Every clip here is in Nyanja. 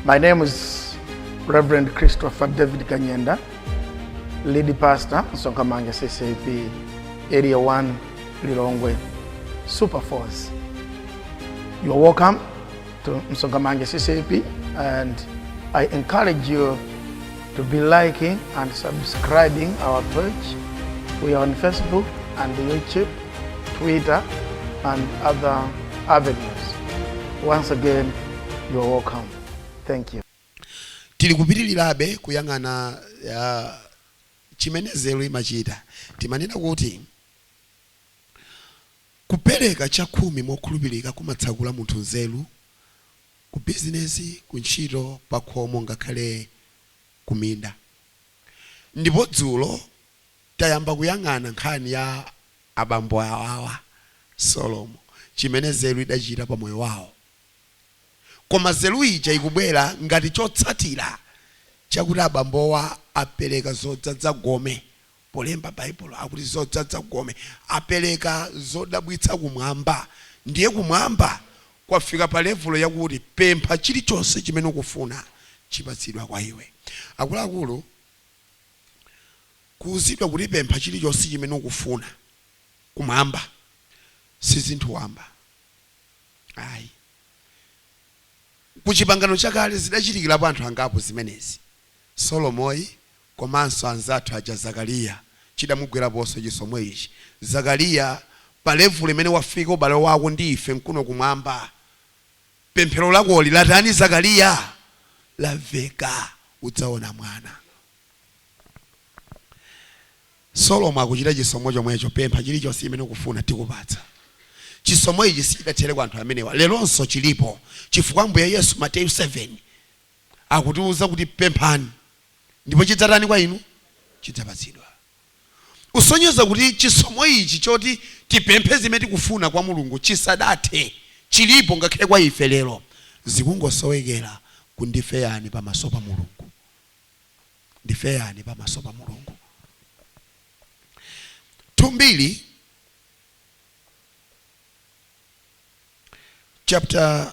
My name is Reverend Christopher David Kanyenda, lead pastor, Sonkamanga CCP, Area 1, Lilongwe, Super Force. You are welcome to Msongamanga CCP and I encourage you to be liking and subscribing our page. We are on Facebook and YouTube, Twitter, and other avenues. Once again, you are welcome. Thank you. tili kupitirirabe kuyang'ana uh, chimene nzeru imachita timanena kuti kupereka chakhumi mokhulupirika kumatsakula munthu nzeru ku bizinesi, ku ntchito, pakhomo, ngakhale ku minda. Ndipo dzulo tayamba kuyang'ana nkhani ya abambo awawa, Solomo, chimene nzeru idachita pa moyo wawo. Koma nzeru ija ikubwera ngati chotsatira chakuti abambowa apereka zodzadza gome polemba Baibulo akuti zodzadza gome apereka zodabwitsa kumwamba, ndiye kumwamba kwafika pa levulo yakuti pempha chilichonse chimene ukufuna chipatsidwa kwa iwe. Akuluakulu, kuuzidwa kuti pempha chilichonse chimene ukufuna kumwamba si zinthu wamba ayi. Ku Chipangano Chakale zidachitikirapo anthu angapo zimenezi, Solomoyi komanso anzathu aja Zakaliya chidamugweraponso chisomo ichi Zakaliya pa level imene wafika ubale wako ndi ife nkuno kumwamba pemphero lakoli latani Zakaliya lamveka udzaona mwana Solomo akuchita chisomo chomwecho pempha chilichonse chimene ukufuna tikupatsa chisomo ichi sichidathere kwa anthu amenewa leronso chilipo chifukwa Ambuye Yesu Mateyu 7 akutiuza kuti pemphani ndipo chidzatani kwa inu? Chidzapatsidwa. Kusonyeza kuti chisomo ichi choti tipemphe zimene tikufuna kwa Mulungu chisadathe, chilipo ngakhale kwa ife lero. Zikungosowekera ku ndife yani pamaso pa Mulungu. Ndife yani pamaso pa Mulungu. 2 Mbiri chapter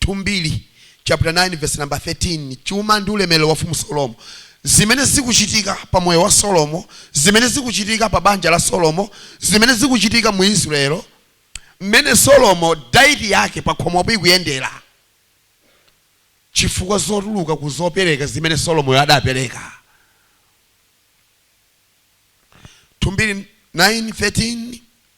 2 Mbiri chaputa 9 vesi namba 13 chuma ndi ulemerero wa mfumu Solomo Zimene zikuchitika pa moyo wa Solomo Zimene zikuchitika pa banja la Solomo Zimene zikuchitika mu Israel Mmene Solomo diet yake pakhomopo ikuyendera Chifukwa zotuluka ku zopereka zimene Solomoyo adapereka 2 Mbiri 9 13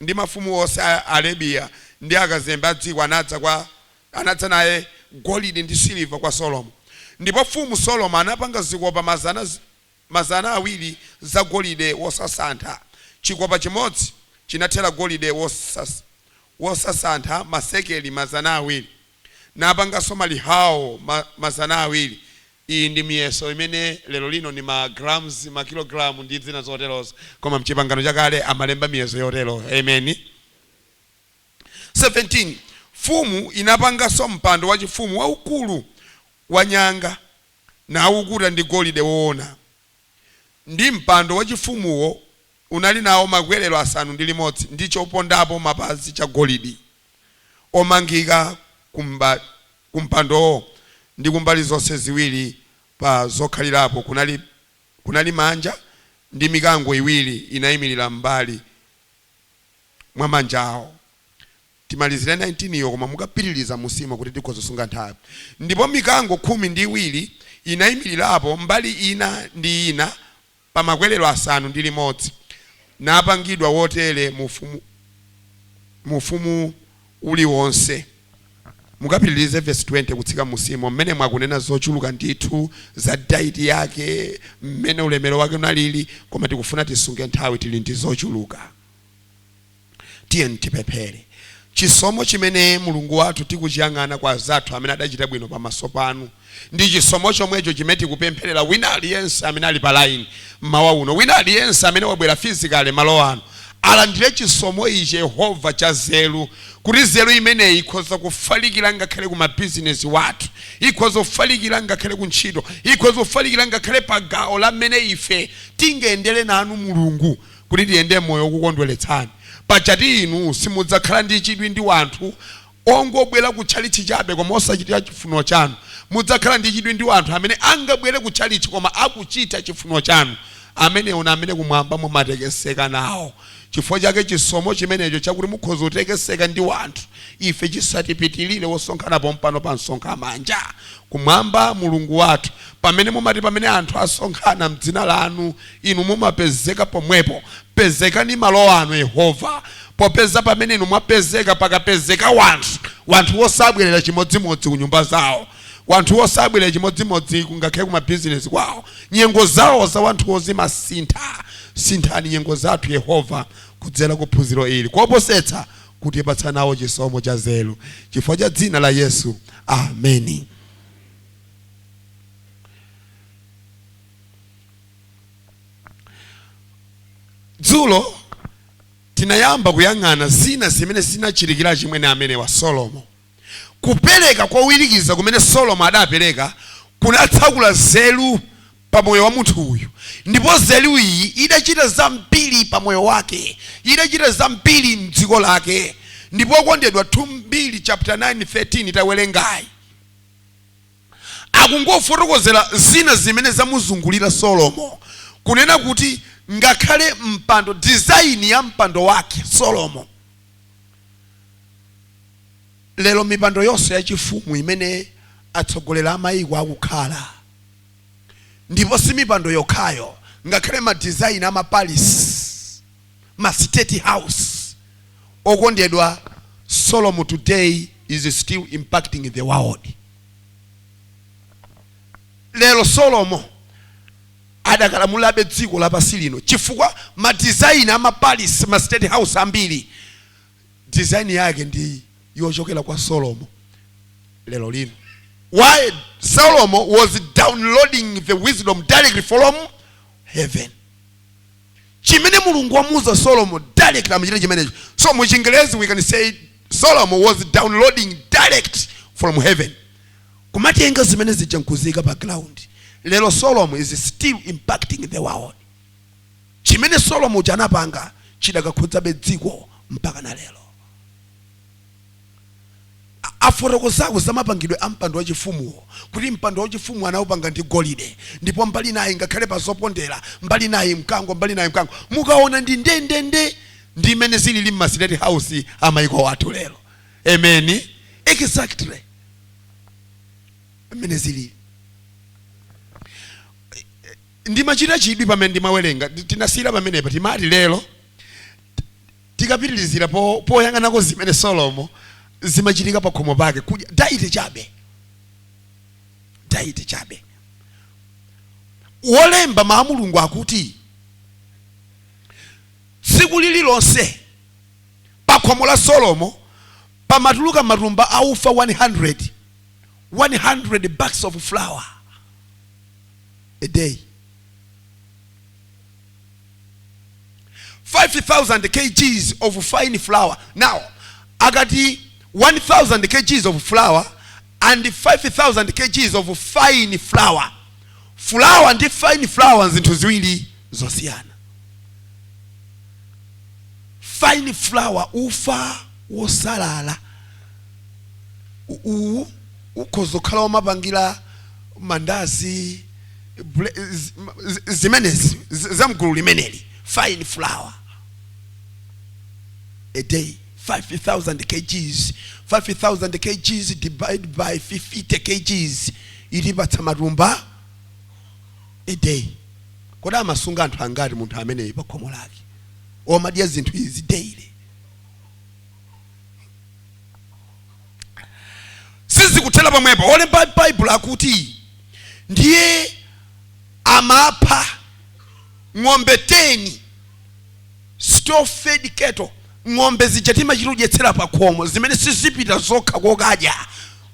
ndi mafumu onse a Arabiya, ndi akazembe a dziko anadza kwa, anadza naye golide ndi siliva kwa Solomo, ndipo mfumu Solomo anapanga zikopa mazana mazana awiri za golide wosasantha, chikopa chimodzi chinathera golide wosasantha masekeli mazana awiri. Napanganso malihawo ma, mazana awiri. Iyi ndi miyeso imene lero lino ni ma grams, ma kilogramu, ndi zina zoterozo, koma m'Chipangano Chakale amalemba miyeso yotero. Ameni. 17, Mfumu inapanganso mpando wachifumu waukulu wanyanga, naukuta ndi golide woona, ndi mpando wachifumuwo unali nao makwerero asanu ndi limodzi, ndi chopondapo mapazi chagolidi. omangika ku mpandowo ndi kumbali zonse ziwiri pa zokhalirapo kunali kunali manja, ndi mikango iwiri inaimirira m'mbali mwa manjawo. Timalizire 19 iyo, koma mukapitiriza mmusimo kuti tikhoza kusunga nthawi. Ndipo mikango khumi ndi iwiri inaimirirapo mbali ina ndi ina pa makwerero asanu ndi limodzi, napangidwa wotere mu ufumu, mu ufumu uliwonse. Mukapitirize vesi 20 kutsika mmusimo, mmenemo mwakunena zochuluka ndithu za dayiti yake, mmene ulemero wake unaliri, koma tikufuna tisunge nthawi, tiri ndi zochuluka. Tiyeni tipemphere. Chisomo chimene Mulungu wathu tikuchiyang'ana kwa azathu amene adachita bwino pa maso panu, ndi chisomo chomwecho chimene tikupempherera wina aliyense amene ali pa line m'mawa uno, wina aliyense amene wabwera physically malo ano, alandire chisomo ichi Yehova cha nzeru, kuti nzeru imeneyi ikhoza kufalikira ngakhale ku ma bizinesi wathu, ikhoza kufalikira ngakhale ku ntchito, ikhoza kufalikira ngakhale pa gawo la m'mene ife tingayendere nanu Mulungu. kuti tiyende m'moyo wokukondweretsani. Pajatu inu simudzakhala ndi chidwi ndi wanthu ongobwera ku tchalitchi chabe koma osachitira chifuniro chanu. Mudzakhala ndi chidwi ndi wanthu amene angabwere ku tchalitchi koma akuchita chifuniro chanu. Amenewo ni amene kumwamba mumatekeseka nawo. Chifukwa chake chisomo chimenecho chakuti mukhoza kutekeseka ndi wanthu ife chisatipitilire osonkhana pompano pa msonkhano manja. Kumwamba, Mulungu wathu, pamene mumati pamene anthu asonkhana m'dzina lanu Inu mumapezeka pomwepo. Pezekani malo ano, Yehova, popeza pamene Inu mwapezeka, pakapezeka wanthu. Wanthuwo sabwerera chimodzimodzi ku nyumba zawo. Wanthuwo sabwerera chimodzimodzi ku, ngakhale ku mabizinesi kwawo. Nyengo zawo za wanthuwo zimasintha. Sinthani nyengo zathu, Yehova, kudzera ku phunziro ili. Koposetsa, kutipatsa nawo chisomo cha nzeru. Chifukwa cha Dzina la Yesu. Ameni. dzulo tinayamba kuyang'ana zina zimene zinachitikira achimwene amenewa solomo kupereka kowirikiza kumene solomo adapereka kunatsakula nzeru pa moyo wa munthu uyu ndipo nzeru iyi idachita zambiri pa moyo wake idachita zambiri mdziko lake ndipo okondedwa 2 mbiri chapter 9 13 tawerengayi akungofotokozera zina zimene zamuzungulira Solomo, kunena kuti ngakhale mpando, design ya mpando wake Solomo. Lero mipando yonse yachifumu imene atsogolera mayiko akukhala, ndipo si mipando yokhayo, ngakhale ma design a ma palace, ma state house okondedwa solomo today is still impacting the world lero solomo adakalamulabe dziko lapansi lino chifukwa ma design ama palace ma state house ambiri design yake ndi yochokera kwa solomo lero lino why solomo was downloading the wisdom directly from heaven chimene Mulungu wamuuza Solomo direct amachita chimenecho. So mu Chingerezi we can say Solomo was downloading direct from heaven. Kumatenga zimene zija nkuziyika pa ground. Lero Solomo is still impacting the world. Chimene Solomo chanapanga chidakakhudzabe dziko mpaka na lero. Afotokozako za mapangidwe a mpando wachifumuwo kuti mpando wachifumuwo anaupanga ndi golide ndipo mbali inayi ngakhale pa zopondera, mbali inayi mkango, mbali inayi mkango. Mukaona ndi ndendende ndi mmene zilili mma state house a maiko athu lero. Amen! Exactly mmene zilili. Ndimachita chidwi pamene ndimawerenga, tinasiyira pamenepa, timati lero. tikapitirizira poyang'anako zimene solomo zimachitika pa khomo pake kudya diet chabe diet chabe wolemba mawu a mulungu akuti tsiku lililonse pa khomo la solomo pamatuluka matumba a ufa 100 100 bags of flour a day 5000 kgs of fine flour now akati 1000 kgs of flour and 5000 kgs of fine flour flour ndi fine flour zinthu ziwiri zosiyana fine flour ufa wosalala U- uwu ukhoza kukhala womapangira mandazi bre- z- ma- z- zimenezi z- za mgulu limeneli fine flour a day 5000 kgs 5000 kgs divided by 50 kgs itipatsa matumba a day kodi amasunga anthu angati munthu ameneyu pa khomo lake omadya zinthu izi daily sizikuthera pamwepo olemba baibulo akuti ndiye amapha ng'ombe 10 stall fed cattle ng'ombe zija timachita kudyetsera pa khomo zimene sizipita zokha kokadya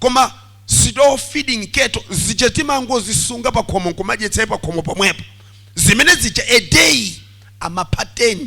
koma stall feeding cattle zija timangozisunga pa khomo nkumadyetsera pa khomo pamwepo zimene zija a day amapha 10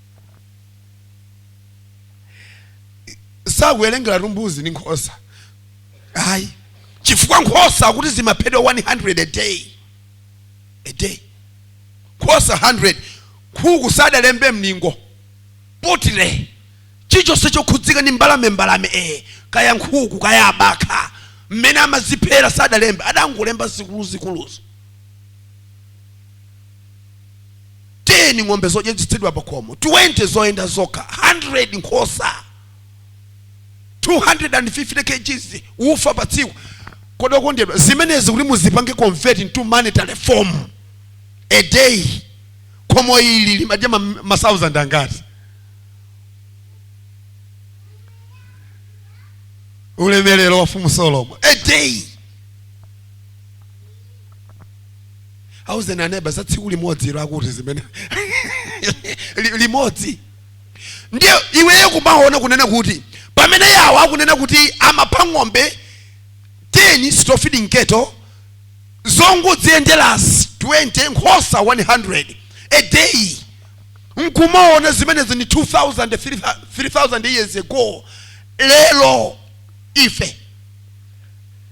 sakuwerengera tumbuzi ndi nkhosa ayi chifukwa nkhosa akuti zimaphedwa 100 a day a day nkhosa 100 nkhuku sadalembe mlingo poultry chichonse chokhudzika ndi mbalame mbalame ee kaya nkhuku kaya abakha mmene amaziphera sadalembe adangolemba zikuluzikuluzo 10 ng'ombe zodyetsedwa pa khomo 20 zoyenda zokha 100 nkhosa 250 kgs ufa pa tsiku kodi okondedwa zimenezi kuti muzipange convert into monetary form a day khomo ili limadya ma, ma thousand angati ulemerero wa mfumu solomo a day auzeni aneba za tsiku limodzi ilo akuti zimene Li- limodzi ndiye iweyo kumaona kunena kuti pamene yawo akunena kuti amapha ng'ombe 10 stall feeding cattle zongodziyendera 20 nkhosa 100 a day nkumaona zimenezi ni 2000 3000 years ago lero ife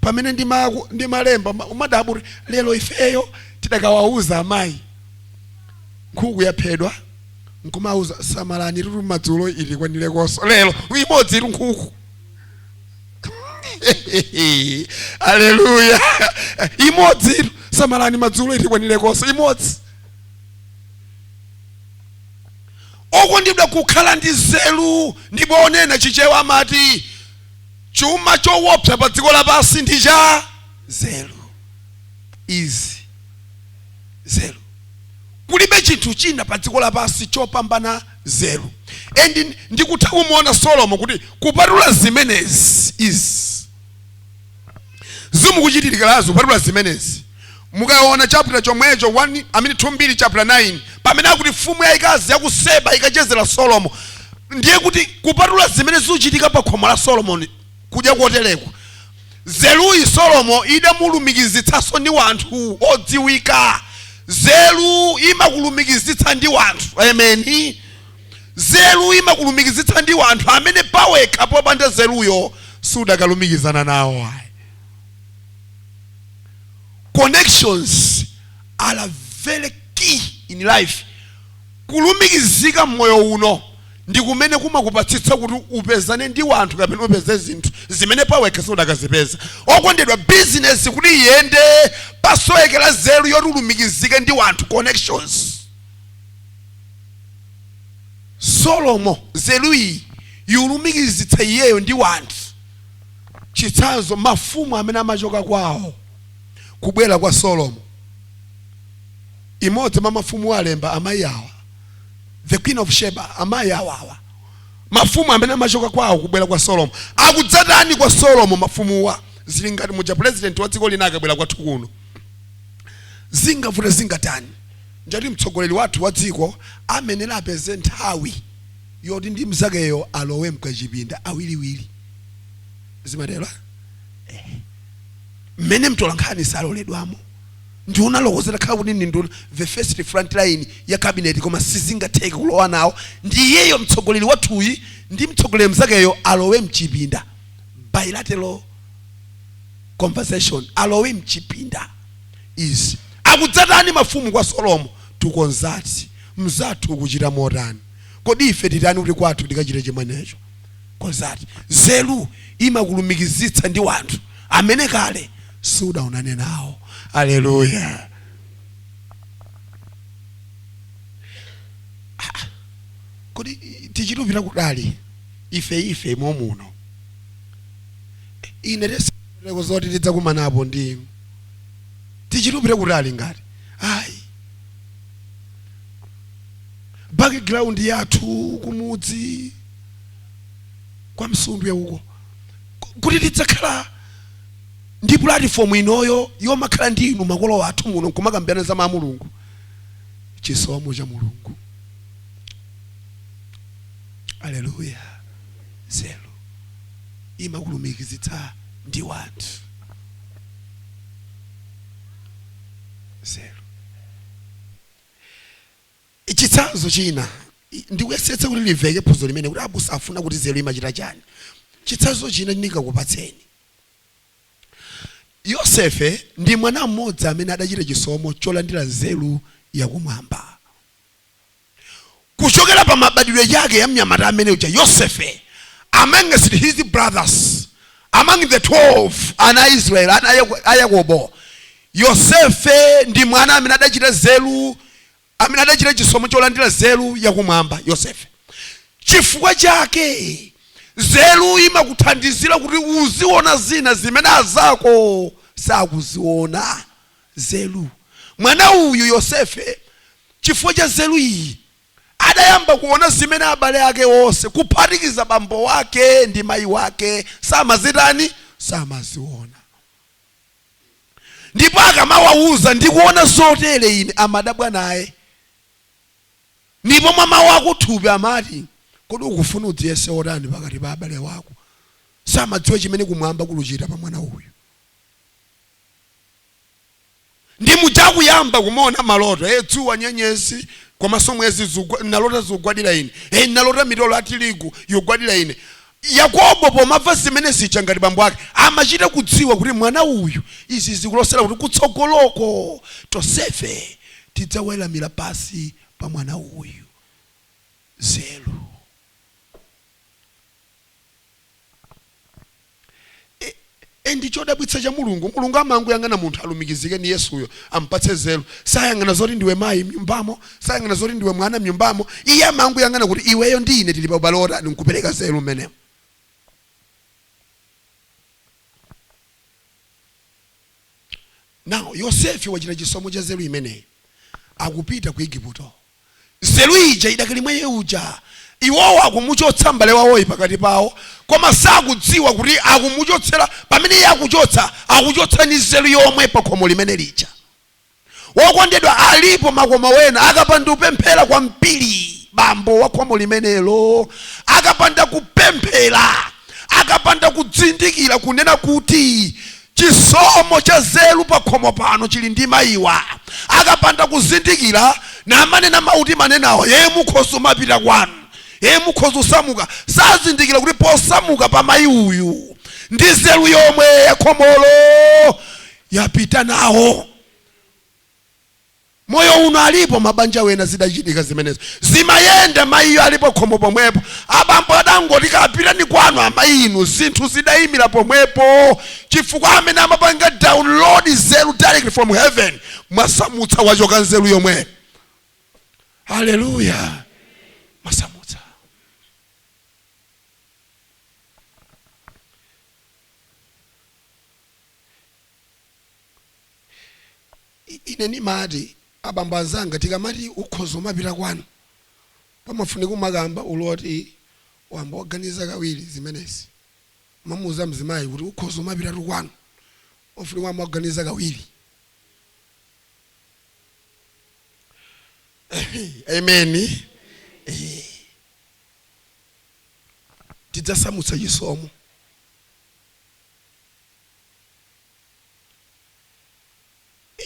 pamene ndimaku- ndimalemba uma- umadabwa kuti lero ifeyo tikawauza amayi nkhuku yaphedwa nkumauza samalani madzulo itikwanilenso lero imodzitu nkhuku aleluya imodzitu samalani madzulo itikwanilekonso imodzi okondedwa kukhala ndi nzeru ndipo onena chichewa amati Chuma chowopsa pa dziko lapansi ndi cha nzeru. Izi nzeru. Kulibe chinthu china pa dziko lapansi chopambana nzeru. And ndikutha kumuona Solomo kuti kupatula zimenezi izi zikumuchitikirazi kupatula zimenezi Mukaona chapter chomwecho 1 I mean 2 Mbiri chapter 9 pamene akuti mfumu yayikazi ya ku Seba ikachezera Solomo, ndiye kuti kupatula zimene zikuchitika pa khomo la Solomoni kudya kotereko, nzeruyi Solomo idamulumikizitsanso ndi wanthu odziwika. Nzeru imakulumikizitsa ndi wanthu. Amen. Nzeru imakulumikizitsa ndi wanthu amene pawekha popanda nzeruyo sudakalumikizana nawo ayi. connections are very key in life kulumikizika mmoyo uno ndi kumene kumakupatsitsa kuti upezane ndi wanthu kapena upeze zinthu zimene pawekha siudakazipeza okondedwa bizinesi kuti iyende pasowekera zeru yoti ulumikizike ndi wanthu connections solomo zeru iyi yulumikizitsa iyeyo ndi wanthu Chitsanzo, Mafumu amene amachoka kwawo kubwera kwa Solomo, imodzi mwa mafumu alemba, amayi awa. The Queen of Sheba, Amayi awawa. Mafumu amene amachoka kwawo kubwera kwa Solomo. Akudzatani kwa Solomo mafumuwa? Zili ngati muja pulezidenti wa dziko lina akabwera kwathu kuno. Zingavute zingatani, ndiye kuti mtsogoleri wathu wa dziko amenera apeze nthawi yoti ndi mzakeyo alowe mkachipinda awiriwiri. zimatero ah? eh. mmene mtolankhani saloledwamo nduna oloko zitakhala kuti ndi nduna the first front line ya cabinet koma sizingatheke kulowa nawo ndi iyeyo mtsogoleri wathuyi ndi mtsogoleri mzakeyo alowe mchipinda bilateral conversation alowe mchipinda izi akudzatani mafumu kwa solomo tikonzati mzathu kuchita motani kodi ife titani kuti kwathu tikachite chimwenecho Konzati. Nzeru imakulumikizitsa ndi wanthu amene kale siudaonane nawo. Alleluya! Haa! Kodi tichite kupita kutali ife ife momuno? Ine tesiteko zoti tidzakumanapo ndi tichite kupita kutali ngati ayi background yathu kumudzi kwa msundwe uko Ku- kuti tidzakhala ndi pulatifomu inoyo yomakhala ndi inu makolo athu muno nkumakambirana za mawu a mulungu chisomo cha mulungu aleluya zeru imakulumikizitsa ndi wanthu zeru Chitsanzo china, ndikuyesetsa kuti limveke phunziro limeneli kuti abusa afuna kuti nzeru imachita chani. Chitsanzo china ndikakupatseni. Yosefe ndi mwana mmodzi amene adachita chisomo cholandira nzeru ya kumwamba. Kuchokera pa mabadwidwe ake ya mnyamata amene uja Yosefe amongst his brothers, among the 12 ana a Israeli, ana a Yakobo, Yosefe ndi mwana amene adachita nzeru, amene adachita chisomo cholandira nzeru yakumwamba. Yosefe. Chifukwa chake nzeru imakuthandizira kuti uziona zina zimene azako sakuziona. Nzeru. Mwana uyu, Yosefe, chifukwa cha nzeru iyi, adayamba kuona zimene abale ake onse, kuphatikiza bambo wake ndi mayi wake, samazitani? Samaziona. ndipo akamawawuza ndikuona zotere ine amadabwa naye ndipo mwa mawu akuthupi amati kodi ukufuna udziyese otani pakati pa abale wako samadziwa chimene kumwamba kuluchita pa mwana uyu ndi muja kuyamba kumaona maloto e dzuwa nyenyezi komanso mwezi zugwa- nalota zikugwadira ine e nalota mitolo ya tirigu ikugwadira ine Yakobo pomamva zimene zija ngati bambo ake amachita kudziwa kuti mwana uyu izi zikulosera kuti kutsogoloko tonsefe tidzaweramira pansi pa mwana uyu. Nzeru. And chodabwitsa cha Mulungu, Mulungu amangoyang'ana munthu alumikizike ndi Yesuyo, ampatse nzeru. Sayang'ana zoti ndiwe mayi mnyumbamo, sayang'ana zoti ndiwe mwana mnyumbamo. Iye amangoyang'ana kuti iweyo ndi ine tili pa ubale wotani nkupereka nzeru mmenemo. Now, Yosefe wachita chisomo cha nzeru imeneyi, akupita ku Igupto. Nzeru ija idakali mwa iye uja. Iwowo akumuchotsa mbale wawoyi pakati pawo koma sakudziwa kuti akumuchotsera, pamene iye akuchotsa, akuchotsa ndi nzeru yomwe pakhomo limene lija. Wokondedwa alipo makomo ena akapanda kupemphera kwambiri bambo wa khomo limenelo akapanda kupemphera akapanda kuzindikira kunena kuti Chisomo cha nzeru pakhomo pano chili ndi mayiwa. Akapanda kuzindikira namanena mawu timanenawa, ee mukhoza kumapita kwanu, ee mukhoza kusamuka. Sazindikira kuti posamuka pa mayi uyu ndi nzeru yomwe yakhomolo yapita nawo. Moyo uno alipo mabanja wena zidachitika zimenezo. Zimayenda mayiyo alipo khomo pomwepo. Abambo adangoti kapitani kwanu, amayi inu zinthu zidayimira pomwepo chifukwa amene amapanga download nzeru direct from heaven mwasamutsa wachoka nzeru yomwe. Hallelujah. Mwasamutsa. Ine nimati abambo azanga tikamati ukhoza kumapita kwanu pamafunika kumakamba utayamba waganiza kawiri zimenezi kumamuuza mzimayi kuti ukhoza kumapitatu kwanu pamafunika kumayamba waganiza kawiri amen eh. tidzasamutsa chisomo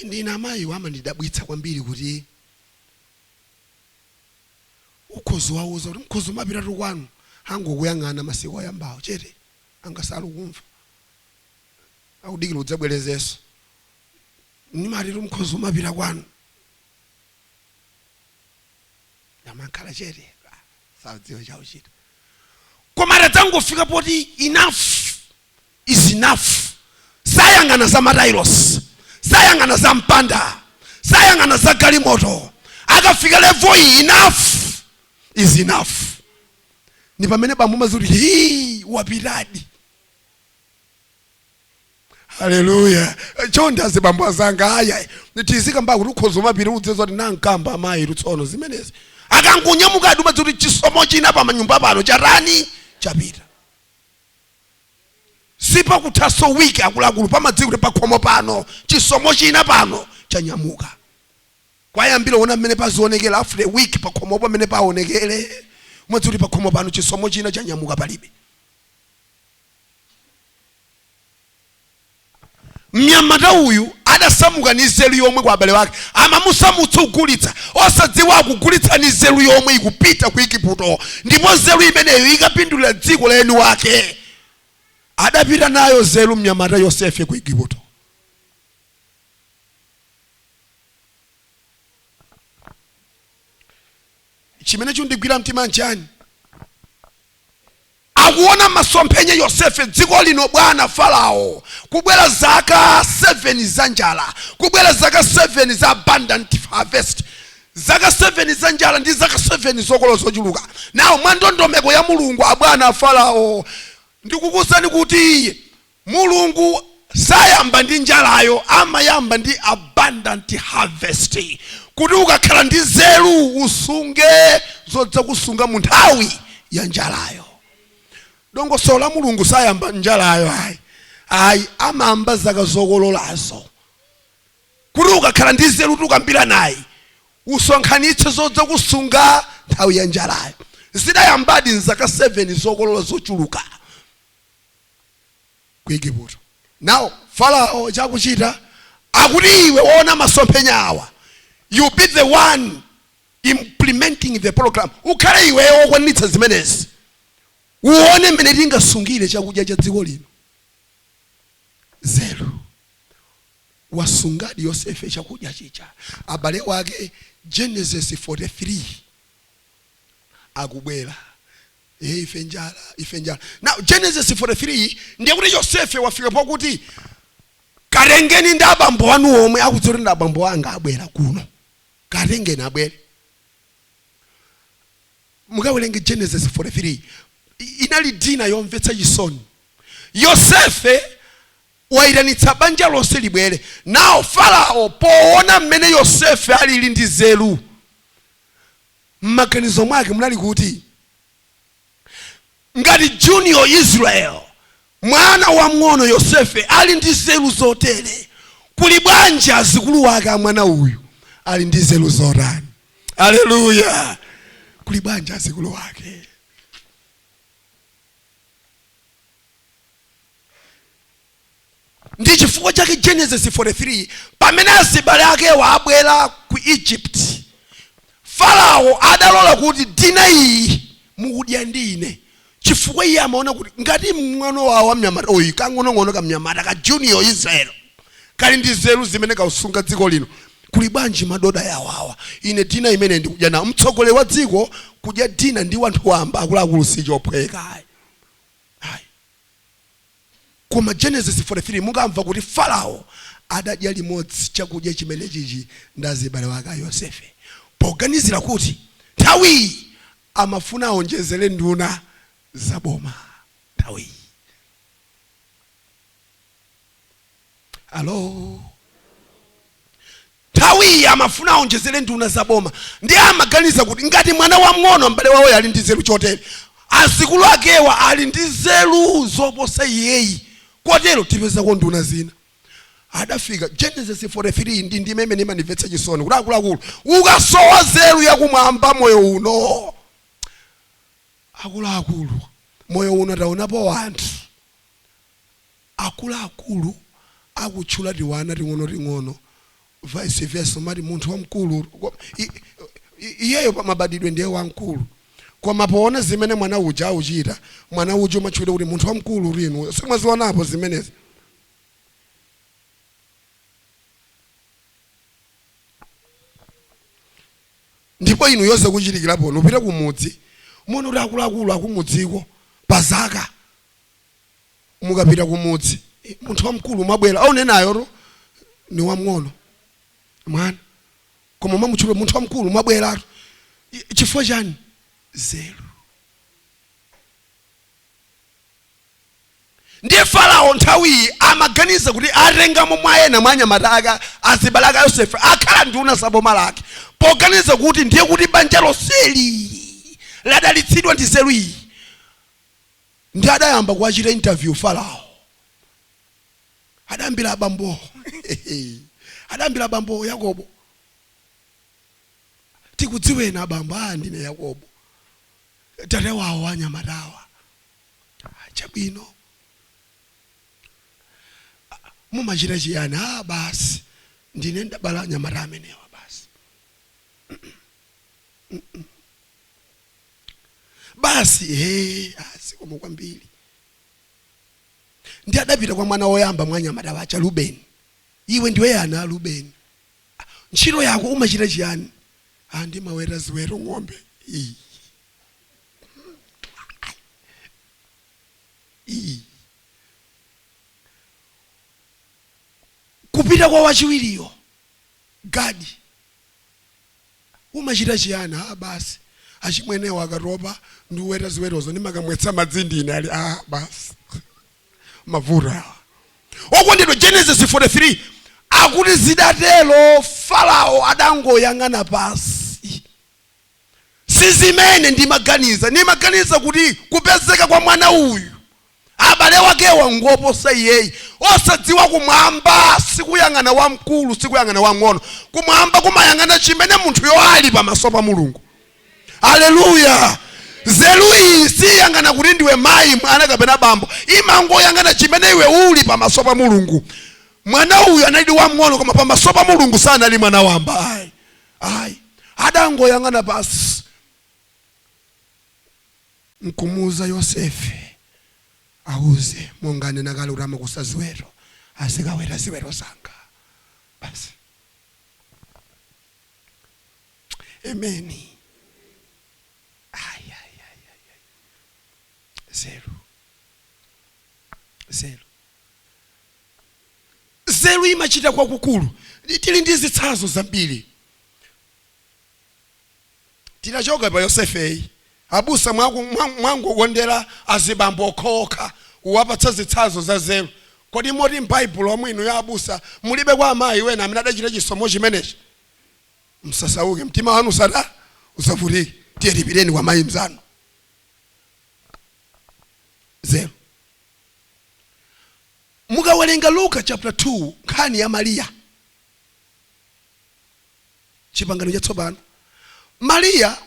ndiye amayiwo amandidabwitsa kwambiri kuti ukhoza uwauza kuti mukhoza umapitatu kwanu angokuyang'ana masiku oyambawo chete ngati sakumva akudikira udzabwerezenso nimatitu mukhoza umapita kwanu amakhala chete sadziwa chochita koma akadzangofika poti enough is enough sayang'ana za matailosi sayang'ana za mpanda sayang'ana za galimoto akafika levo iyi enough is enough ni pamene bambo umadziwa kuti hii wapitadi haleluya chonde azibambo azanga aya tizikamba kuti ukhoza umapita udzeza kuti nankamba amayi lutsono zimenezi akangonyamuka umadziwa kuti chisomo china pamanyumba pano chatani chapita sipakuthanso wiki akuluakulu pamadziwa kuti pakhomo pano chisomo china pano chanyamuka kwayambira ona mmene pazionekera after a week pakhomopo mmene paonekere umadziwa kuti pakhomo pano chisomo china chanyamuka palibe Mnyamata uyu adasamuka ni nzeru yomwe kwa abale wake. Amamusamutsa kugulitsa, osadziwa akugulitsa ni nzeru yomwe ikupita ku Igiputo, ndipo nzeru imeneyo ikapindulira dziko la eni wake. Adapita nayo nzeru mnyamata Yosefe ku Igiputo. Chimene chundigwira mtima nchani? Akuona masomphenya Yosefe dziko lino bwana Farawo kubwera zaka 7 za njala kubwera zaka 7 za abundant harvest zaka 7 za njala ndi zaka 7 zokolola zochuluka now mwandondomeko ya Mulungu abwana Farawo ndikukuuzani kuti Mulungu sayamba ndi njalayo amayamba ndi abundant harvest kuti ukakhala ndi nzeru usunge zodzakusunga mu nthawi ya njalayo. Dongosolo la Mulungu sayamba njalayo ayi ayi amayamba zaka zokololazo kuti ukakhala ndi nzeru tikukambiranayi usonkhanitse zodzakusunga nthawi ya njalayo. Zidayambadi ndi zaka 7 zokolola zochuluka. ku Igupto. Now Farao chakuchita akuti iwe waona masomphenya awa, you be the one implementing the program, ukhale iweyo wokwaniritsa zimenezi, uone mmene tingasungire chakudya cha dziko lino. Nzeru. Wasungadi Yosefe chakudya chija, abale wake Genesis 43 akubwera Eh, ife njala ife njala now genesis 43 ndiye kuti yosefe wafika pakuti katengeni ndi abambo wanu omwe akudziwa kuti ndi abambo anga abwera kuno katengeni abwere mukawerenge genesis 43 I- inali dina yomvetsa chisoni yosefe wayitanitsa banja lonse libwere now farao poona mmene yosefe alili ndi nzeru mmaganizo mwake munali kuti ngati junior Israel mwana wamng'ono Yosefe ali ndi nzeru zotere kuli bwanji azikulu wake a mwana uyu ali ndi nzeru zotani aleluya kuli bwanji azikulu wake ndi chifukwa chake genesis 43 pamene azibale akewa abwera ku egypt farao adalola kuti dina iyi mukudya ndi ine chifukwa iye amaona kuti ngati mng'ono wawo mnyamata uyu kang'onong'ono kamnyamata ka junior israel kali ndi nzeru zimene kakusunga dziko lino kuli bwanji madoda awawa ine dina imeneyi ndikudya nawo mtsogoleri wa dziko kudya dina ndi wanthu wamba akuluakulu si chophweka ayi Koma Genesis 43 mukamva kuti Farao adadya limodzi chakudya chimenechichi ndi azibale wake a Yosefe poganizira kuti nthawiyi amafuna aonjezere nduna za boma nthawiyi. alo nthawiyi amafuna aonjezere nduna za boma ndiye amaganiza kuti ngati mwana wamng'ono m'bale wawoyo ali ndi nzeru chotere azikulu akewa ali ndi nzeru zoposa iyeyi kotero tipezako nduna zina adafika genesis 43 ndi ndime imene imandimvetsa chisoni kuti akuluakulu ukasowa nzeru yakumwamba moyo uno akuluakulu moyo uno taonapo wanthu akuluakulu akutchula tiwana ting'onoting'ono vice versa umati munthu wamkulu iyeyo pa mabadwidwe ndiye wamkulu koma poona zimene mwana uja auchita mwana uja umatchulidwa kuti munthu wamkulu inuyo simwazionapo zimenezi? ndipo inuyo zakuchitikiraponi upite kumudzi muone kuti akuluakulu akumudziko pa zaka. mukapita kumudzi "Eh, munthu wamkulu mwabwera akunenayo ni wamng'ono mwana koma mwamutchula munthu wamkulu mwabweratu chifukwa chani nzeru ndiye farao nthawiyi amaganiza kuti atengamo mwa ena mwa anyamata ake azibale ake a yosefe akhala nduna za boma lake poganiza kuti ndiye kuti banja lonseli ladalitsidwa ndi nzeru iyi ndi adayamba kuwachita interview Farao adayambira abambowo adayambira abambowo yakobo tikudziweni abambo a ndine yakobo tate wawo anyamatawa Ah, chabwino Ah, mumachita chiyani a basi ndine ndabala anyamata amenewa basi basi ee zikomo kwambiri ndi adapita kwa mwana woyamba mwa anyamata aja rubeni iwe ndiwe yani a rubeni ntchito yako umachita chiyani "Ah, ndimaweta ziweto ng'ombe Ii. Ii. kupita kwa wachiwiriyo gadi Umachita chiyani? Aaa basi achimwenewo akatopa ndi kuweta ziwetozo ndimakamwetsa madzi ndine ali aah basi mavuto awa. Okondedwa Genesis 43 akuti zidatero Farao adangoyang'ana pansi. Sizimene ndimaganiza. Ndimaganiza kuti kupezeka kwa mwana uyu abale wakewa ngoposa iyeyi osadziwa kumwamba sikuyang'ana wamkulu sikuyang'ana wang'ono kumwamba kumayang'ana chimene munthuyo ali pamaso pa mulungu aleluya nzeru iyi siyang'ana kuti ndiwe mayi mwana kapena bambo imangoyang'ana chimene iwe uli pamaso pa mulungu mwana uyu anali wamng'ono koma pamaso pa mulungu sanali mwana wamba ayi ayi adangoyang'ana pasi nkumuuza Yosefe, Auze, monga ananena kale kuti amakusa ziweto, azikaweta ziweto zanga. Basi. Amen. Ai, ai, ai, ai, ai. Nzeru. Nzeru. Nzeru imachita kwakukulu. Tili ndi zitsanzo zambiri. Titachokapo pa Yosefeyi, abusa mwa ku- mwa- mwangokondera azibambo okhaokha kuwapatsa zitsanzo za nzeru. Kodi moti m'Baibulomu inuyo abusa mulibeko amayi wena amene adachita chisomo chimenechi? Musasauke, mtima wanu usata usavutike. Tiyeni tipiteni kwa mayi mnzanu. Nzeru. Mukawerenga Luka chapter 2 nkhani ya Mariya Chipangano Chatsopano. Mariya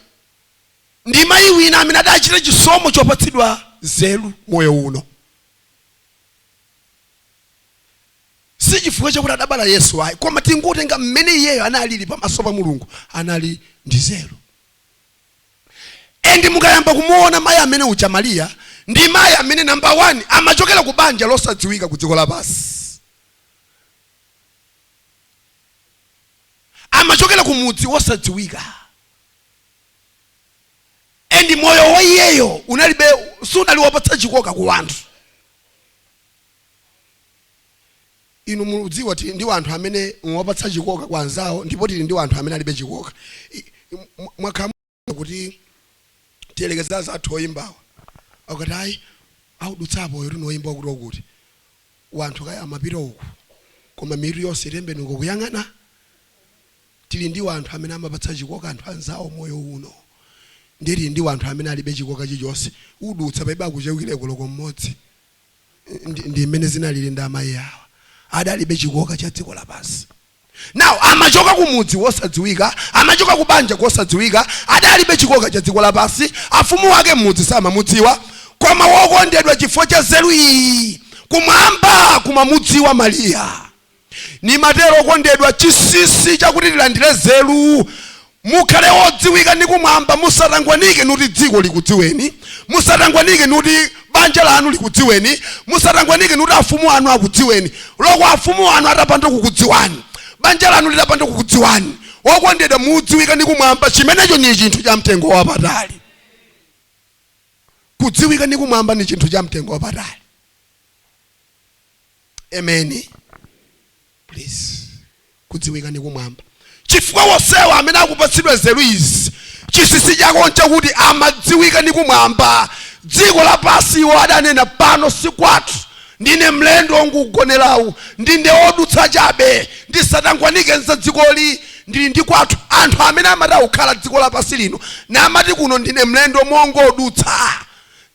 ndi mayi wina amene adachita chisomo chopatsidwa nzeru moyo uno. Si chifukwa chakuti adabala Yesu ayi, koma tingotenga mmene iyeyo analili pamaso pa Mulungu, anali ndi nzeru. And mukayamba kumuona mayi amene uja Mariya, ndi mayi amene number one amachokera ku banja losadziwika ku dziko lapansi. amachokera ku mudzi wosadziwika and moyo wa iyeyo unalibe sunali wopatsa chikoka ku wanthu inu mudziwa kuti tili ndi wanthu amene amapatsa chikoka kwa anzawo ndipo tili ndi wanthu amene alibe chikoka I- mwa- mwakhala kuti tiyerekeze azathu oyimbawa akati ayi audutsa apo uyu noyimba wakuti wakuti wanthu kaya amapita uku koma mitu yonse itembenuka kuyang'ana tili ndi wanthu amene amapatsa chikoka anthu anzawo moyo uno ndiye tili ndi wanthu amene alibe chikoka chilichonse udutsa palibe akuchewukireko loko mmodzi ndi, ndi mmene zinalili ndi amayi awa adalibe chikoka cha dziko lapansi now amachoka ku mudzi wosadziwika amachoka ku banja kosadziwika adalibe chikoka cha dziko lapansi afumu wake m'mudzi samamudziwa koma wokondedwa chifukwa cha nzeru iyi kumwamba kumamudziwa mariya Nimatero okondedwa, chinsinsi chakuti tilandire nzeru, mukhale odziwika ni kumwamba, musatangwanike nuti dziko likudziweni, musatangwanike nuti banja lanu likudziweni, musatangwanike nuti afumu anu akudziweni. Loko afumu anu atapanda kukudziwani, banja lanu litapanda kukudziwani, okondedwa, mudziwika ni kumwamba, chimenecho ni chinthu cha mtengo wapatali. Kudziwika ni kumwamba ni chinthu cha mtengo wapatali. Ameni. Please. Kudziwika ndi kumwamba. Chifukwa onsewa amene akupatsidwa nzeru izi, chinsinsi chake nchakuti amadziwika ndi kumwamba. Dziko lapansi iwo adanena pano si kwathu. Ndine mlendo wongogonera, ndine wodutsa chabe, ndisatangwanike nza dzikoli, ndili ndi kwathu. Anthu amene amati akukhala dziko lapansi lino namati kuno ndine mlendo wongodutsa,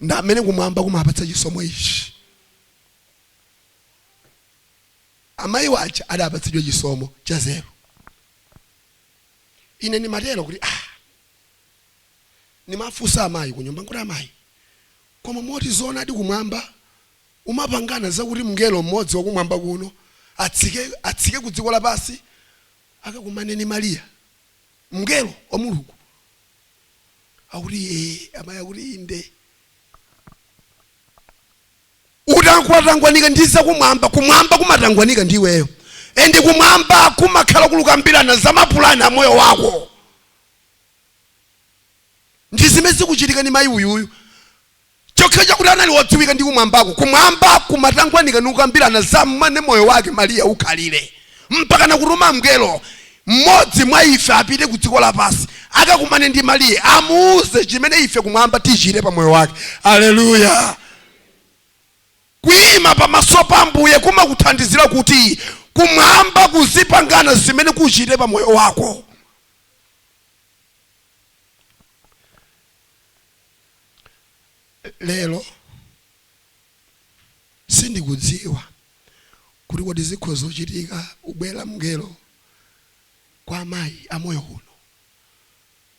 ndi amene kumwamba kumapatsa chisomo ichi. Amayiwo aja adapatsidwa chisomo cha nzeru. Ine nimatero kuti nimafunsa amayi kunyumba nkuti, Amayi, koma moti zoonadi kumwamba kumapangana zakuti mngelo mmodzi wakumwamba kuno atsike kudziko lapansi akakumane ndi Maria, mngelo wa Mulungu? Akuti, amayi akuti inde. ukatangwanika ndi zakumwamba kumwamba kumatangwanika ndi iweyo endi kumwamba kumakhala kulukambirana za mapulani a moyo wako ndi zimene zikuchitika ni mayi uyuyu chokhacho chakuti anali wodziwika ndi kumwambako kumwamba kumatangwanika nikukambirana za mmene moyo wake mariya ukhalire mpaka nakutuma mngelo mmodzi mwa ife apite ku dziko lapansi akakumane ndi mariya amuuze chimene ife kumwamba tichite pa moyo wake aleluya kuyima pamaso pa ambuye kumakuthandizira kuti kumwamba kuzipangana zimene kuchite pa moyo wako lero Sindikudziwa kuti kodi zikhoza kuchitika kubwera mngelo kwa amayi a moyo uno,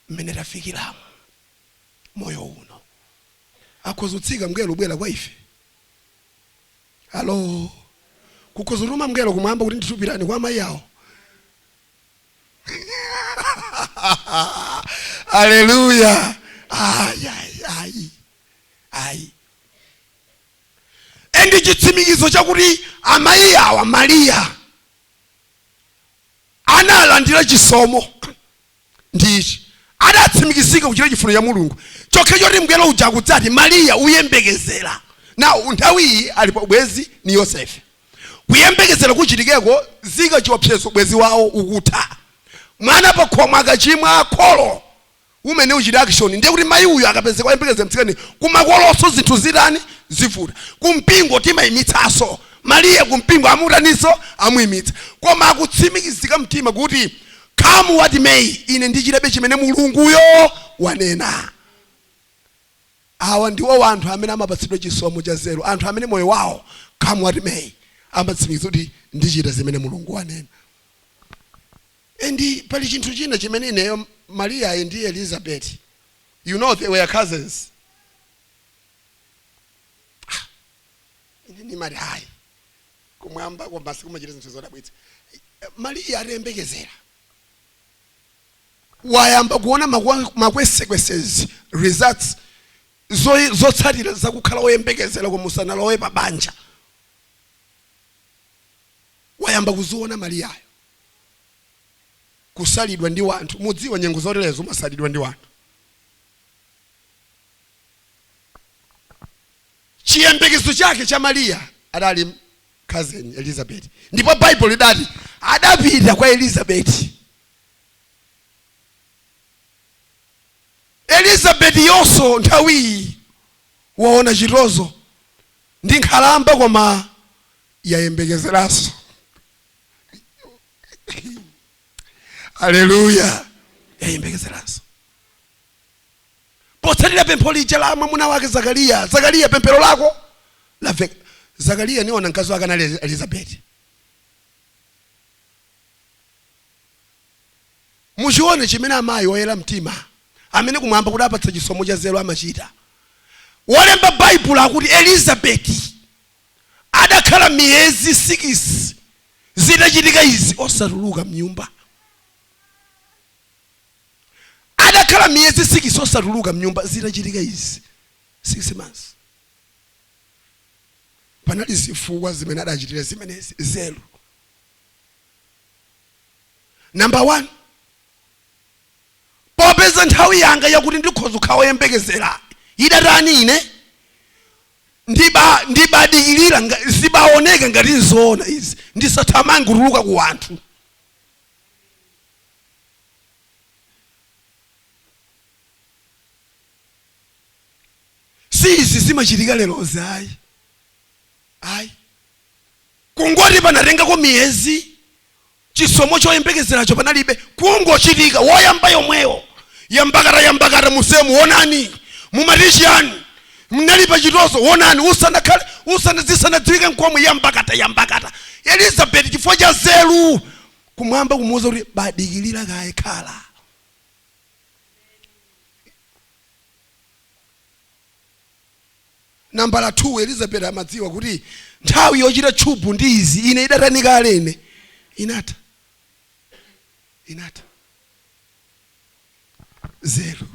mmene tafikiramo, moyo uno. Akhoza kutsika mngelo kubwera kwa ife? Alo? Kukhoza kutuma mngelo kumwamba kuti ndithu pitani kwa amayi awo? Aleluya! Ayi, ayi, ayi. ayi endi chitsimikizo chakuti amayi awa mariya analandira chisomo ndi ichi adatsimikizika kuchita chifuniro cha mulungu chokhacho choti mngelo uja kudzati mariya uyembekezera nayo nthawi iyi ali pa ubwenzi ni yosefe kuyembekezera kuchitikeko zika chiopsezo ubwenzi wawo ukutha mwana pakhomo akachimwa kholo umene uchite action ndiye kuti mayi uyu akapezeka oyembekezera mtsikana kumakolonso zinthu zitani zivuta kumpingo timayimitsanso Mariya kumpingo amutaninso amuyimitsa koma akutsimikizika mtima kuti come what may ine ndichitabe chimene mulunguyo wanena awa ndiwo anthu amene amapatsidwa chisomo cha nzeru anthu amene moyo wawo come what may amatsimikiza kuti ndichita zimene mulungu wanena And pali chinthu china chimene ineyo, Mariyayi ndi Elizabeti, you know they were cousins. Ah, ine ndimati ayi kumwambaku abusa kumachita zinthu zodabwitsa. Mariya atayembekezera wayamba kuona makwa- makwesekwesezi results zo- zotsatira zakukhala woyembekezera koma usanalowe pa banja wayamba kuziona mariyayo kusalidwa ndi wanthu mumadziwa nyengo zoterezo umasalidwa ndi wanthu chiyembekezo chake cha mariya adali cousin elizabeth ndipo baibulo lidati adapita kwa elizabeth elizabeth yonso nthawiyi waona chitonzo ndi nkhalamba koma yayembekezeranso aleluya yayembekezeranso potsatira pempho lija la mwamuna wake zakariya zakariya pemphero lako laveka zakariya n'dzina mkazi wake anali elizabeti muchione chimene amayi oyera mtima amene kumwamba kukawapatsa chisomo cha nzeru amachita wolemba baibulo akuti elizabeti adakhala miyezi sikisi zitachitika izi osatuluka mnyumba. Adakhala miyezi sikisi osatuluka mnyumba zitachitika izi sikisi months. Panali zifukwa zimene adachitira zimenezi nzeru. Namba 1 popeza nthawi yanga yakuti ndikhoza kukhala woyembekezera idatha ine ndiba ndibadikirira nga- zibaoneka ngati nzoona izi ndisathamange kutuluka ku wanthu si izi zimachitika lerozi ayi ayi kungoti panatengako miyezi chisomo choyembekezeracho panalibe kungochitika woyamba yomweyo yambakata yambakata musemu wonani mumatichiyani mnali pachitoso wonani usanakhale usana zisanadziwike nkomwe yambakata yambakata elizabeti chifukwa cha nzeru Kumwamba kumuuza kuti badikilira kaye khala Nambala 2, Elizabeti amadziwa kuti nthawi yochita tchubu ndi izi, ine idatani kale. Inatha. Inatha. Nzeru.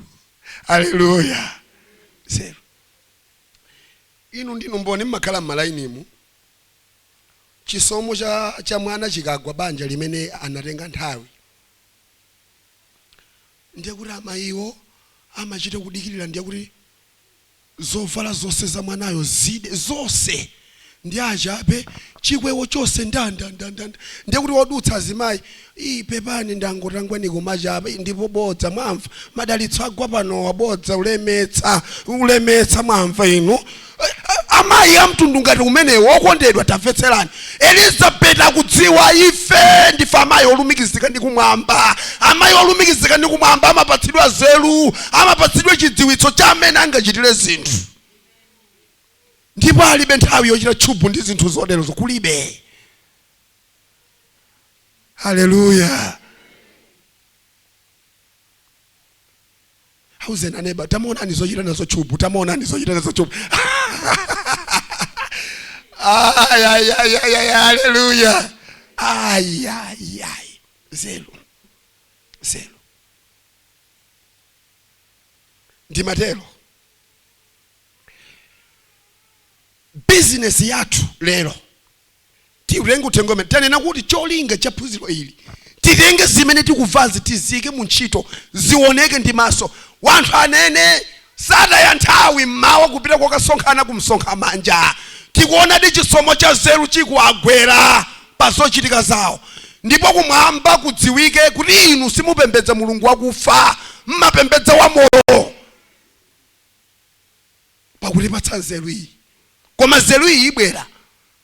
Aleluya. Nzeru. Inu ndinu mboni mmakhala mmalainimu. Chisomo cha cha mwana chikagwa banja limene anatenga nthawi. Ndiye kuti amayiwo amachita kudikirira ndiye kuti Zovala zonse za mwanayo zide zonse ndi achape, chikwewo chonse ndandandandanda, ndiye kuti wodutsa azimayi ii pepani ndangotangwanika kumachapa ii ndipo bodza mwamva madalitso agwa panowa bodza ulemetsa ulemetsa mwamva inu amayi amtundu ngati umenewo okondedwa tamvetserani Elizabeti akudziwa, ife ndife amayi olumikizika ndi Kumwamba. Amayi olumikizika ndi Kumwamba amapatsidwa nzeru, amapatsidwa chidziwitso cha m'mene angachitire zinthu. Ndipo alibe nthawi yochita tchubu ndi zinthu zoterozo, kulibe. Haleluya! auzeni aneba tamuonani zochita nazo tchubu tamuonani zochita nazo tchubu haleluya ayayayi nzeru nzeru ndimatero bizinesi yathu lero tiutenge uthenga umene tanena kuti cholinga cha phunziro ili titenge zimene tikumvazi tiziike mu ntchito zioneke ndi maso wanthu anene sataya nthawi mmawa kupita kokasonkhana kumsonkhano wanja tikuonadi chisomo cha nzeru chikuwagwera pa zochitika zawo ndipo kumwamba kudziwike kuti inu simupembedza mulungu wakufa mmapembedza wa moyo pakutipatsa nzeru iyi. Koma nzeru iyi ibwera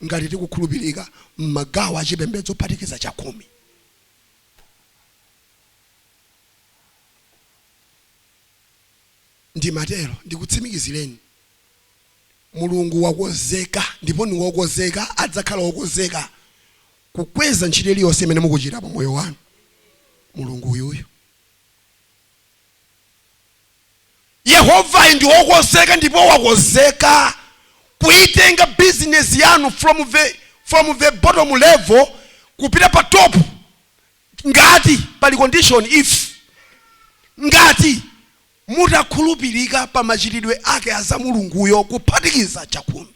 ngati tikukhulupirika m'magawo a chipembedzo kuphatikiza chakhumi. Ndimatero, ndikutsimikizireni. Mulungu wakonzeka ndipo ni wokonzeka, adzakhala wokonzeka kukweza ntchito iliyonse imene mukuchita pa moyo wanu. Mulungu uyuyu. Yehovayi ndi wokonzeka ndipo wakonzeka kuitenga business yanu from the bottom level kupita pa top ngati pali condition if ngati mutakhulupirika pa machitidwe ake a za Mulunguyo kuphatikiza chakhumi.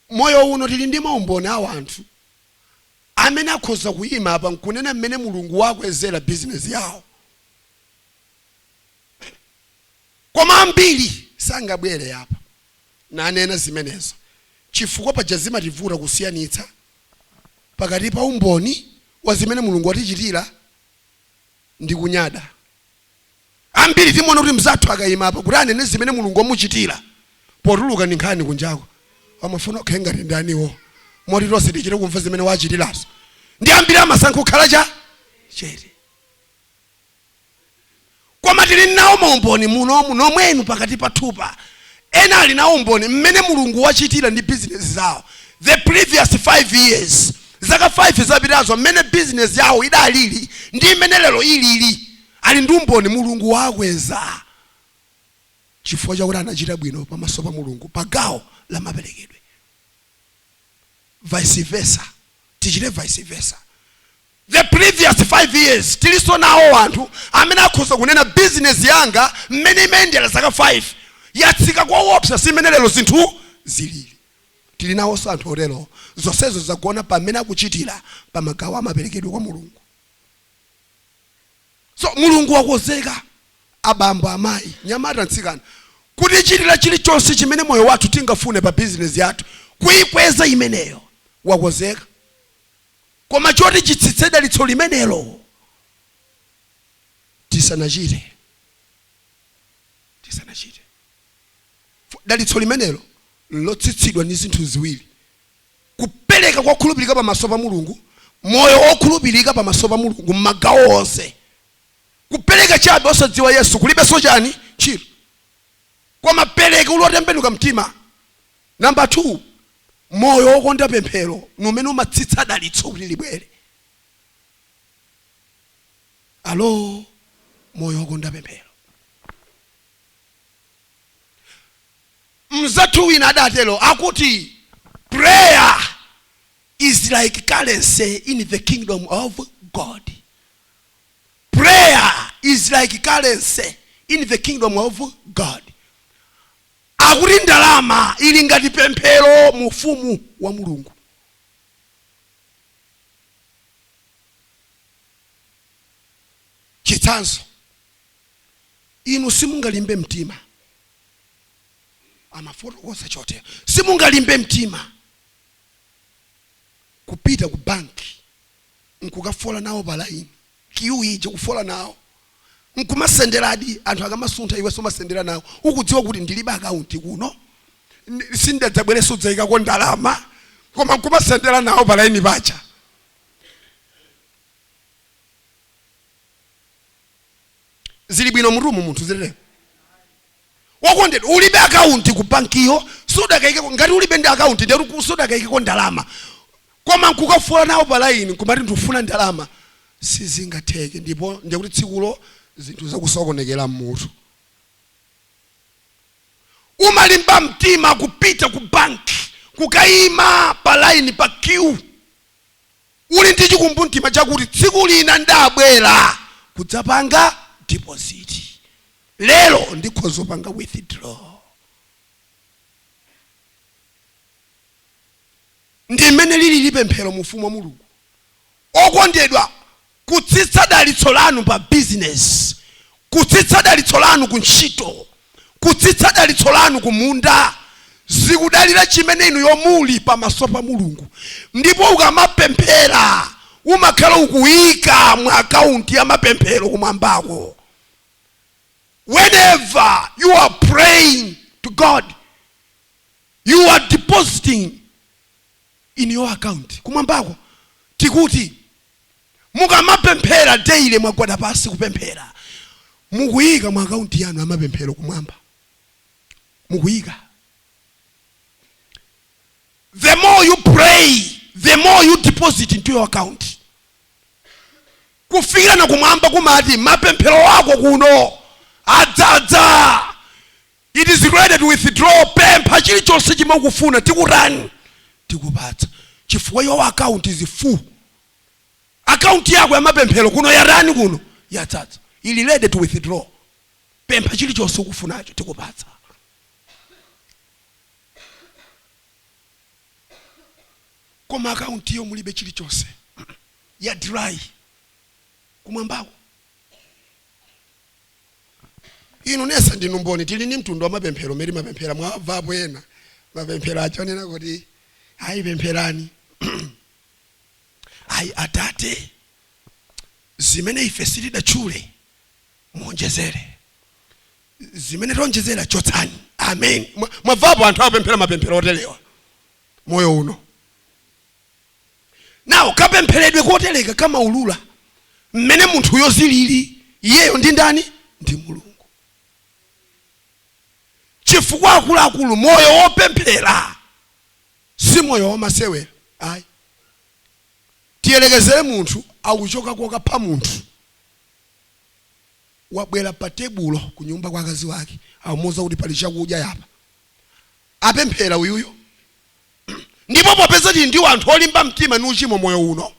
M'moyo uno tili ndi maumboni a wanthu amene akhoza kuima apa nkunena mmene Mulungu waakwezera bizinezi yawo. Koma ambiri sangabwere apa nanena zimenezo chifukwa paja zimativuta kusiyanitsa pakati pa umboni wa zimene Mulungu watichitira ndi kunyada. Ambiri timaona kuti mnzathu akaima apa kuti anene zimene Mulungu wamuchitira, potuluka ndi nkhani kunjako, amafuna akhale ngati ndaniwo moti tonse tichite kumva zimene waachitirazo. Ndiye ambiri amasankha kukhala cha chete. Koma tili nawo maumboni munomu, momwemu pakati pathupa, Ena ali nawo umboni mmene Mulungu wachitira ndi bizinezi zawo the previous 5 years, zaka 5 zapitazo mmene bizinezi yawo idalili ndi mmene lero ilili. Ali ndi umboni, Mulungu waakweza chifukwa chakuti anachita bwino pamaso pa Mulungu pa gawo la maperekedwe. Vice versa, tichite vice versa. the previous 5 years tilinso nawo anthu amene akhoza kunena business yanga mmene imayendera zaka 5 yatsika kowopsa simene lero zinthu zilili tili nawonso anthu otero zonsezo zagona pa mmene akuchitira pa magawo amaperekedwe kwa mulungu so mulungu wakonzeka abambo amayi mnyamata mtsikana kutichitira chilichonse chimene moyo wathu tingafune pa bizinesi yathu kuyikweza imeneyo wakonzeka Koma choti chitsitse dalitso limenelo tisanachite, tisanachite. Dalitso limenelo nlotsitsidwa ndi zinthu ziwiri. Kupereka kokhulupirika pamaso pa Mulungu, moyo wokhulupirika pamaso pa Mulungu m'magawo onse. Kupereka chabe osadziwa Yesu kulibenso chani? Ntchito. Koma pereka uli wotembenuka mtima. Number 2, moyo wokonda pemphero ni umene umatsitsa dalitso kuti libwere. Alo, moyo wokonda pemphero. Mzathu wina adatero akuti prayer is like currency in the kingdom of God. Prayer is like currency in the kingdom of God. Akuti ndalama ili ngati pemphero mu Ufumu wa Mulungu. Chitsanzo, Inu simungalimbe mtima, amafotokoza chotero. Simungalimbe mtima kupita ku banki n'kukafola nawo palaini. kiu ija ukufola nawo nkumasenderadi anthu akamasuntha iweso umasendera nawo ukudziwa kuti ndilibe akaunti kuno sindidadzabwereso kudzaikako ndalama koma nkumasendera nawo pa laini paja. Zili bwino mmutumu munthu zililemo. wokondedwa ulibe akaunti ku bankiyo sudakaikeko ngati ulibe ndi akaunti ndetu ku- sudakaikeko ndalama koma nkukafola nawo pa laini nkumati ndifuna ndalama sizingatheke ndipo ndikuti tsikulo zinthu zakusokonekera mmutu umalimba mtima kupita ku banki kukayima pa laini pa kiwu uli ndi chikumbumtima chakuti tsiku lina ndabwera kudzapanga deposit lero ndikhoza kupanga withdraw ndi mmene lilili pemphero mu ufumu wa mulungu okondedwa kutsitsa dalitso lanu pa bizinesi kutsitsa dalitso lanu ku ntchito kutsitsa dalitso lanu ku munda zikudalira chimene inu yomuli pamaso pa mulungu ndipo ukamapemphera umakhala ukuyika mu akaunti ya mapemphero kumwambako Whenever you are praying to God, you are depositing in your account. Kumwambako tikuti mukamapemphera daily mwagwada pasi kupemphera mukuyika mu akaunti yanu ya mapemphero kumwamba mukuyika the more you pray the more you deposit into your account Kufikira na kumwamba kumati mapemphero ako kuno adzadza. It is ready to withdraw. Pempha chilichonse chimene ukufuna tikutani tikupatsa chifukwa your account is full. Account yako ya mapemphero kuno yatani kuno yadzadza. Ili ready to withdraw. Pempha chilichonse ukufunacho tikupatsa. Koma account yo mulibe chilichonse. ya dry kumwambako inu nonse ndinu mboni tili ndi mtundu wa mapemphero umene timapemphera mwavapo ena mapemphero aja onena kuti ayi pempherani ayi atate zimene ife sitidatchule muonjezere zimene taonjezera chotsani amen Mwa- mwavapo anthu apemphera mapemphero oterewa moyo uno nawo kapempheredwe kotereka kamaulula mmene munthuyo zilili iyeyo ndi ndani ndi mulungu chifukwa akuluakulu moyo wopemphera si moyo wamasewera ayi tiyerekezere munthu akuchoka kokapha munthu wabwera pa tebulo ku nyumba kwa akazi wake amuuza kuti pali chakudya yapa apemphera uyuyo ndipo popeza tili ndi wanthu olimba mtima ni uchimo moyo uno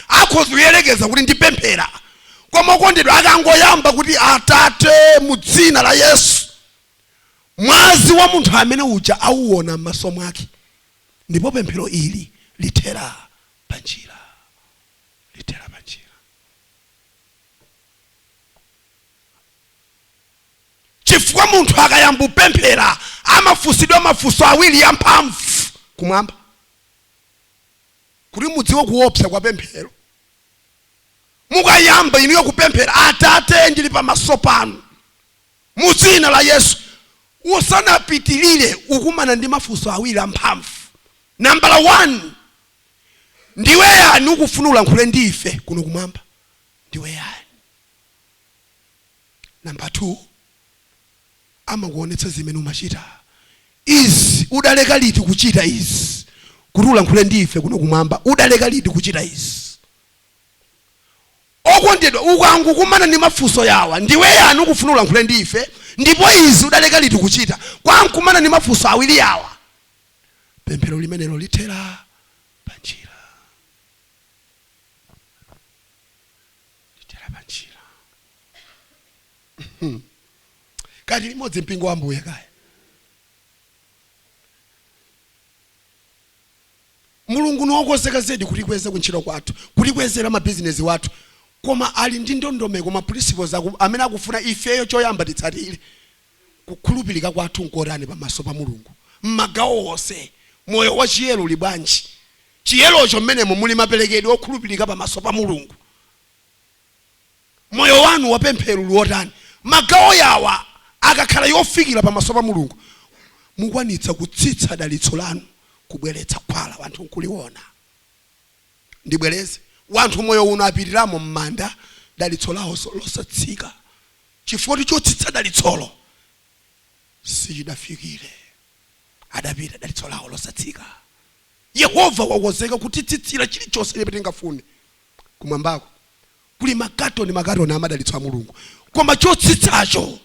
akhoza kuyerekeza kuti ndipemphera koma okondedwa akangoyamba kuti atate mu dzina la yesu mwazi wa munthu amene uja auwona m'maso mwake ndipo pemphero ili lithera panjira lithera panjira chifukwa munthu akayamba kupemphera amafunsidwa mafunso awiri amphamvu kumwamba kuti mudziwe kuopsa kwa pemphero mukayamba inuyo kupemphera atate ndili pamaso panu mu dzina la yesu usanapitilire ukumana ndi mafunso awiri amphamvu nambala 1 ndiwe yani ukufuna ulankhule ndi ife kuno kumwamba ndiwe yani Number 2 amakuonetsa zimene umachita izi udaleka liti kuchita izi kuti ulankhule ndi ife kuno kumwamba udaleka liti kuchita izi okondedwa ukangokumana ndi mafunso yawa ndiwe yani ukufuna ulankhule ndi ife ndipo izi udaleka liti kuchita ukangokumana ndi mafunso awiri yawa pemphero limenelo lithera panjira lithera panjira kati limodzi mpingo wa ambuye kaya mulungu niwokonzeka zedi kutikweza kuntchito kwathu kutikwezera mabizinesi wathu koma ali ndi ndondomeko ma principles aku- amene akufuna ifeyo choyamba titsatire kukhulupirika kwathu nkotani pamaso pa mulungu mmagawo onse moyo wa chiyero uli bwanji chiyerocho mmenemo muli maperekedwe okhulupirika pamaso pa mulungu moyo wanu wapemphero uli wotani magawo yawa akakhala yofikira pamaso pa mulungu mukwanitsa kutsitsa dalitso lanu kubweretsa khwala wanthu nkuliwona ndibwereze wanthu moyo uno apitiramo mmanda dalitso lawo losatsika chifukwa choti chotsitsa dalitsolo sichidafikire adapita dalitso lawo losatsika yehova wakonzeka kutitsitsira chilichonse chimene tingafune kumwambako kuli makatoni makatoni a madalitso a Mulungu, koma chotsitsacho,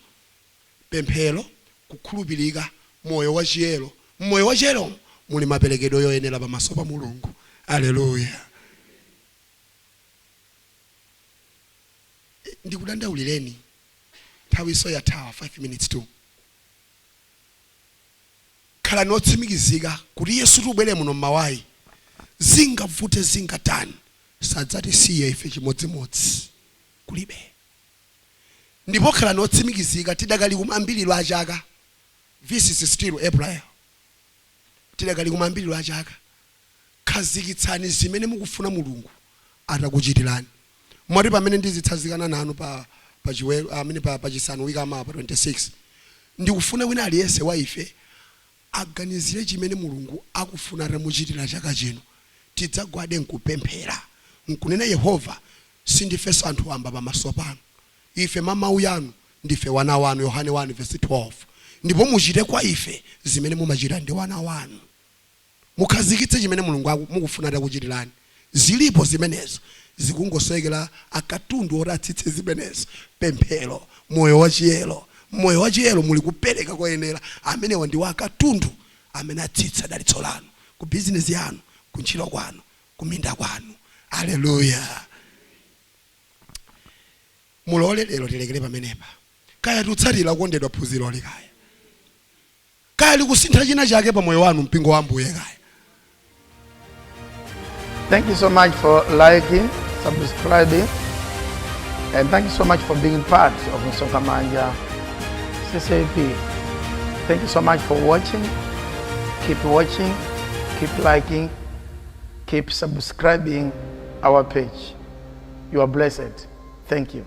pemphero, kukhulupirika, moyo wachiyero. Mmoyo wachiyeromo muli maperekedwe yoyenera pamaso pa Mulungu. Aleluya! Ndikudandaulireni, nthawinso yathawa, 5 minutes to. Khalani otsimikizika kuti Yesu tibwere muno mmawayi, zingavute zingatani, sadzatisiya ife chimodzimodzi kulibe. Ndipo khalani otsimikizika tidakali kumayambiriro a chaka this is still April tidakali kumayambiriro a chaka khazikitsani zimene mukufuna Mulungu atakuchitirani moti pamene ndizitsazikana nanu pa pa chiweru amene pa pa chisanu wiki yamawa pa 26 ndikufuna wina aliyense wa ife aganizire chimene Mulungu akufuna atamuchitira chaka chino, tidzagwade nkupemphera, nkunena, Yehova, sindifenso anthu wamba pamaso panu. Ife, mwa mau yanu, ndife wana wanu, Yohane 1 vesi 12, ndipo muchite kwa ife zimene mumachita ndi wana wanu. Mukhazikitse chimene Mulungu mukufuna atakuchitirani. Zilipo zimenezo, zikungosowekera a katundu oti atsitse zimenezo, pemphero, moyo wa chiyero. Mmoyo wa chiyero muli kupereka koyenera, amenewa ndiwo a katundu amene atsitsa dalitso lanu, ku bizinesi yanu, ku ntchito kwanu, ku minda kwanu. Aleluya! Mulole lero tilekere pamenepa, kaya tikutsatira okondedwa phunziroli kaya. kaya likusintha china chake pa moyo wanu mpingo wa ambuye kaya Thank you so much for liking, subscribing, and thank you so much for being part of Msoka Manja CCAP. Thank you so much for watching. Keep watching, keep liking, keep subscribing our page. You are blessed. Thank you.